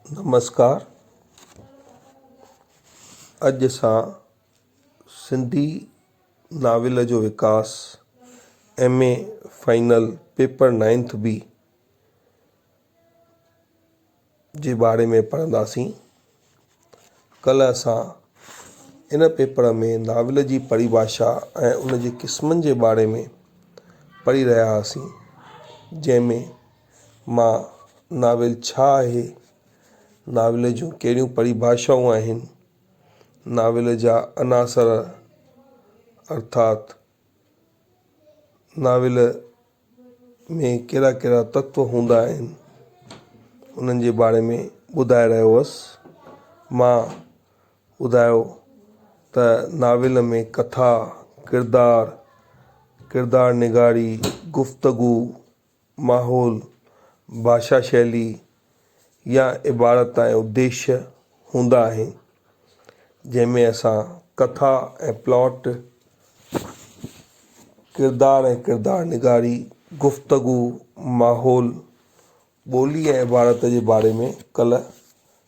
نمسڪار اڄ اسان سنڌي ناول جو وڪاس M A final paper ninth B جي باري ۾ پڙهنداسين ڪلهه اسان ان پيپر ۾ ناول جي پريڀاشا ۽ ان جي قسمن جي باري ۾ پڙهي رهيا هئاسين جنهن ۾ مان ناول ڇا آهي ناول جون ڪهڙيون پريڀاشائون آهن ناول جا عناصر ارٿات ناول ۾ ڪهڙا ڪهڙا تتو هوندا آهن انهن جي باري ۾ ٻڌائي رهيو هوس مان ٻڌايو ته ناول ۾ ڪٿا ڪردار ڪردار نگاري گفتگو ماحول، ڀاشا شيلي يا عبارت تائين اديشيه هوندا آهن، جنهن ۾ اسان ڪٿا ۽ پلاٽ، ڪردار ۽ ڪردار نگاري، گفتگو، ماحول، ٻولي ۽ عبارت جي باري ۾ ڪلهه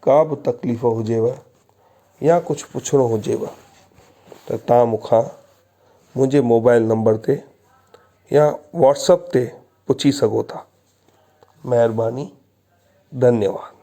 ڪا به تڪليف هجيو يا ڪجهه پڇڻو هجيو ته تان مون کان منهنجي موبائل نمبر تي يا واٽس اپ تي پڇي سگهو ٿا مهرباني ڌنيواد.